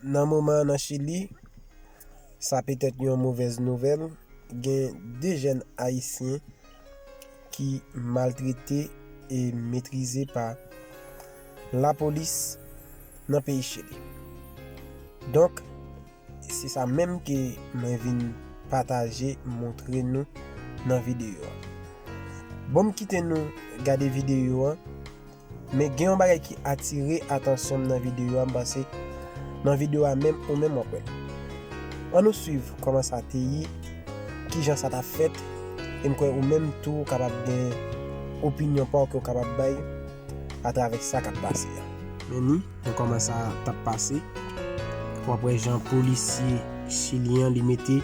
Nan moman an nan Chili, sa petèt yon movèz nouvèl, gen 2 jèn ayisyen ki maltrete e metrize pa lapolis nan peyi Chili. Donk. Se sa menm ke mwen vin pataje montre nou nan videyo a. Bon m kite nou gade videyo a, men gen yon bagay ki atire atansyon m nan videyo a m panse nan videyo a menm ou menm w ap wè. An nou swiv kòman sa te ye, kijan sa ta fèt e m kwè ou menm tou ou kapab gen opinyon pa w ke w kapab bay. atravè sa kap pase a. Meni, men kòman sa tap pase, wap wè jan polisye chilyen an li mete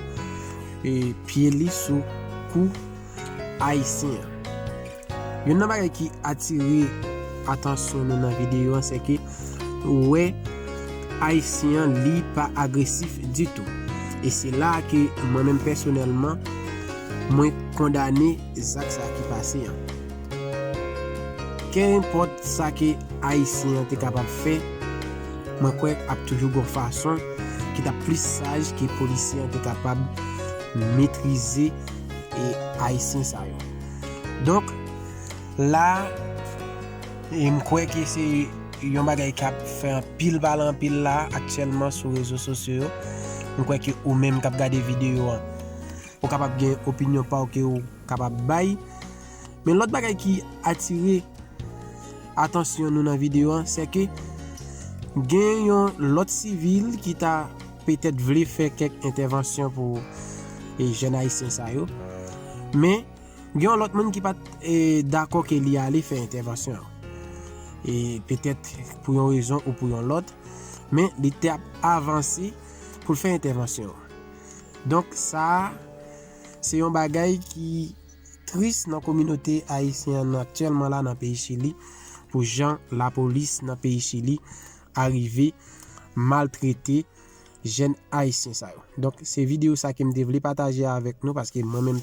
pye li sou kou ayisyen an. Youn nan bagay ki atire atansyon nou nan videyo an se ke ou wè ayisyen an li pa agresif ditou. E se la a ke mwen menm pèsonèlman mwen kondane zak sa ki pase an. Kenpòt sa ke Ayisyen an te kapab fè, mwen kwè ap toujou gon fason ki tap plis saj ke polisye an te kapab metrize Ayisyen sa yo. Donk, la a, m kwè ke se yon bagay kap fè anpil pale anpil la a aktyèlman sou rezo sosyo yo. M kwè ke ou menm kap gade videyo an, ou kapab gen opinyon pa w ke ou kapab bay. Men lòt bagay ki atire atansyon nou nan video an, se ke gen yon lòt sivil ki ta petèt vle fè kèk entèvansyon pou e jèn ayisyen sa yo. Men, gen yon lòt moun ki pat e dakò ke li ale fè entèvansyon an. E petèt pou yon rezon ou pou yon lòt, men li te ap avanse pou l fè entèvansyon an. Donk sa, se yon bagay ki. tris nan kominote ayisyen an aktyèlman la nan peyi Chili pou jan lapolis nan peyi Chili arive maltrete jèn ayisyen sa yo. Donk se videyo sa ke m te vle pataje avèk nou paske mwen menm.